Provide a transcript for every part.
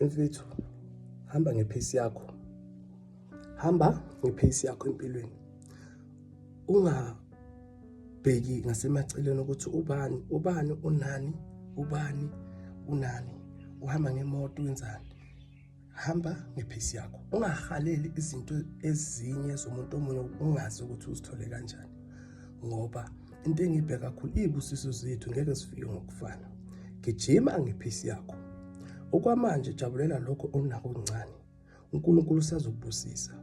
mfethu hamba ngephesi yakho hamba ngephesi yakho empilweni ungabheki ngasemaceleni ukuthi ubani ubani unani ubani unani uhamba ngemoto wenzani hamba ngephesi yakho ungahaleli izinto ezinye zomuntu omunye ungazi ukuthi uzithole kanjani ngoba into engibheka kakhulu iy'busiso zethu ngeke sifike ngokufana gijima ngephisi yakho okwamanje jabulela lokho onako kuncane unkulunkulu usazokubusisa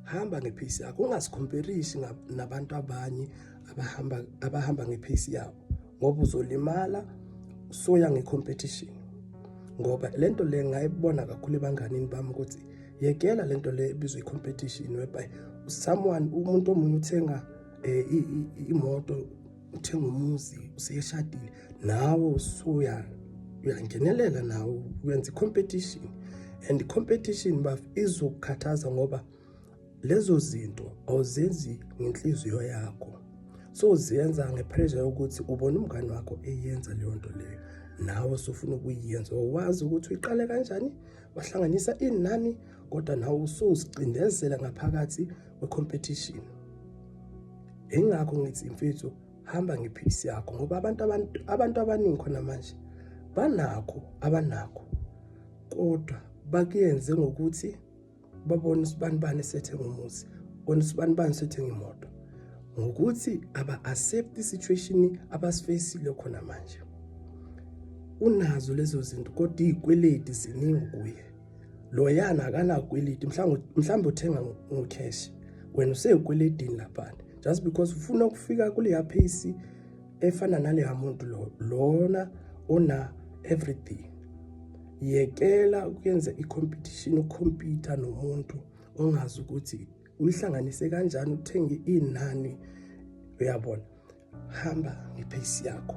hamba ngephisi yakho ungazikhomperisi nabantu abanye abahamba abahamba ngephisi yabo ngoba uzolimala soya ngecompetition ngoba lento le ngayibona kakhulu ebanganini bami ukuthi yekela le nto le ebizwa i-competition whereby someone umuntu omunye uthenga eh, imoto uthenga umuzi useyeshadile nawe usuya uyangenelela nawe uyenza i-competition and i-competition baf izokukhathaza ngoba lezo zinto awuzenzi ngenhliziyo yakho so uziyenza ngepressure yokuthi ubona umngane wakho eyenza leyo nto leyo nawe sofuna ukuyenza wazi ukuthi uyiqale kanjani wahlanganisa inani kodwa nawe usuzicindezela ngaphakathi kwecompetition engakho ngithi imfethu hamba ngephilisi yakho ngoba abantu abantu abantu abaningi khona manje banakho abanakho kodwa bakuyenze ngokuthi babone usibani bani sethe ngomuzi bona usibani bani sethe ngemoto ngokuthi aba accept isituation abasifacile khona manje unazo lezo zinto kodwa izikweleti ziningi kuye loyana akanakweleti mhlawumbe mhlawumbe uthenga ngocash wena useyikweletini lapha just because ufuna ukufika kuleya pace efana naleya muntu lo lona ona everything yekela ukuyenza i-competition ukhompyutha nomuntu ongazi ukuthi Uyihlanganise kanjani uthenge inani uyabona. Hamba ngepace yakho.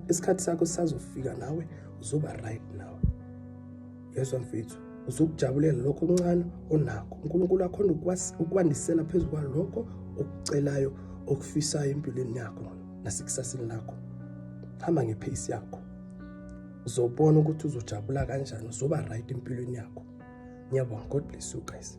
Isikhathi sakho sisazofika nawe uzoba right nawe. Yezwa mfethu uzokujabulela lokho okuncane onakho. uNkulunkulu akhona ukwandisela phezu kwalokho okucelayo okufisayo empilweni yakho nasekusasini lakho. Hamba ngepace yakho. uzobona ukuthi uzojabula kanjani uzoba right empilweni yakho ngiyabonga god bless you guys